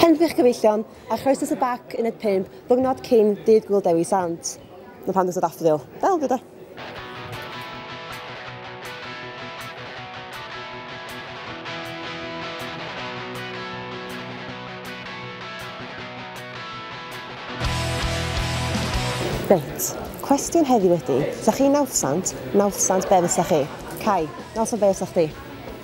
Henffych Cyfeillion, a chroesus y bac uned 5, ddiwrnod cyn Dydd Gwyl Dewi Sant. Mae pan dysa daffodil. Del, gyda. Reit, cwestiwn heddiw ydy, sa chi'n nawddsant, nawddsant be fysa chi? Cai, nawddsant be fysa chdi?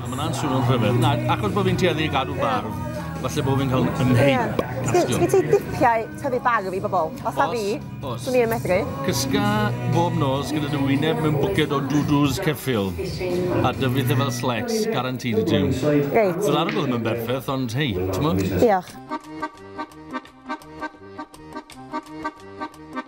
Mae hwnna'n swnio'n rhyfedd. Na, achos bod fi'n tueddu i gadw barf, falle bod fi'n cael yn heip. Sgyn ti dipiau tyfu barf i bobl? Os a fi, swn i'n medru. Cysga bob nos gyda dy wyneb mewn bwced o dwdws ceffil a dyfu dde fel slets, garantid i ti. Reit. Dwi'n arogl ddim yn berffaith, ond hei, ti'n mwyn? Diolch.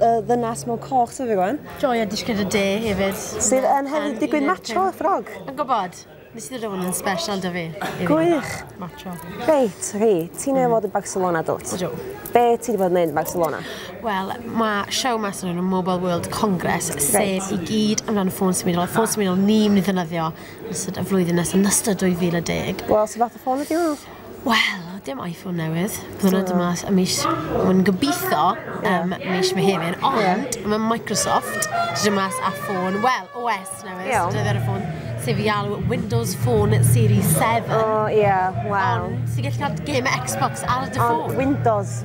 y ddynas mewn coch sydd fi gwan. Joio disgyn y de hefyd. Sydd yn hefyd digwydd macho y ffrog. Yn gwybod. Nes i ddod hwn yn special da fi. Gwych. Macho. Reit, rhi, ti'n ei fod yn Barcelona dwt? Ydw. Be ti wedi bod yn neud yn Barcelona? Wel, mae show mas yn nhw'n Mobile World Congress, sef i gyd amdano ffôn symudol, a ffôn symudol ni'n mynd i ddynyddio yn ystod y flwyddyn nes yn ystod 2010. Wel, sy'n fath o ffôn ydi hwnnw? Wel, dim iPhone newydd. Bydd hwnna'n dod mas y mis, mae'n gobeithio, um, mis Mehefin. Ond yeah. mae Microsoft dod mas a ffôn, wel, OS newydd, yeah. dydd ar y ffôn, sef fi alw Windows Phone Series 7. O, oh, ie, yeah, wow. Ond sy'n gallu cael game Xbox ar dy ffôn. Ond Windows.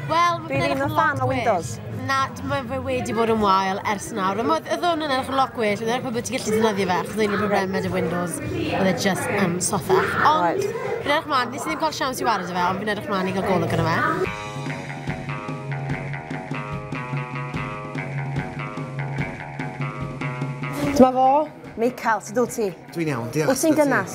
Wel, Dwi ddim yn fan o Windows. Na, mae fe wedi bod yn wael ers nawr. Ond oedd hwn yn edrych yn lot gwell, yn edrych bod ti gallu defnyddio fe, achos oedd problem med y Windows, oedd e just yn um, sotha. Ond, fi'n edrych mlaen, nes i ddim cael siawns i wario fe, ond fi'n edrych mlaen i gael golwg yna fe. Dyma fo, Michael, sut dwi ti? Dwi'n iawn, diolch. Wyt ti'n gynnas?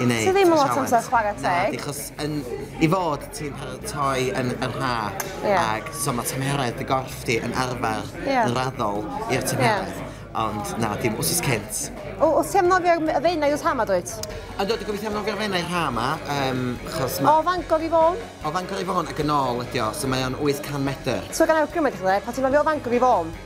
i neud. Ti ddim yn lot amser chware teg. Na, di chos yn i fod ti'n paratoi yn yr ha. Ie. Ag so ma' tymheredd dy gorff di yn arfer Ie. yn raddol i'r tymheredd. Ie. Ond na, dim wsos cynt. O, o ti am nofio y fenau os ha ma dwyt? A dwi wedi gobeithio am nofio'r fenau ha ma, um, chos ma... O Fangor i Fôn? O Fangor i Fôn ac yn ôl ydi o, so mae o'n 800 metr. So gan awgrymu i chdi, pa ti'n nofio o Fangor i Fôn?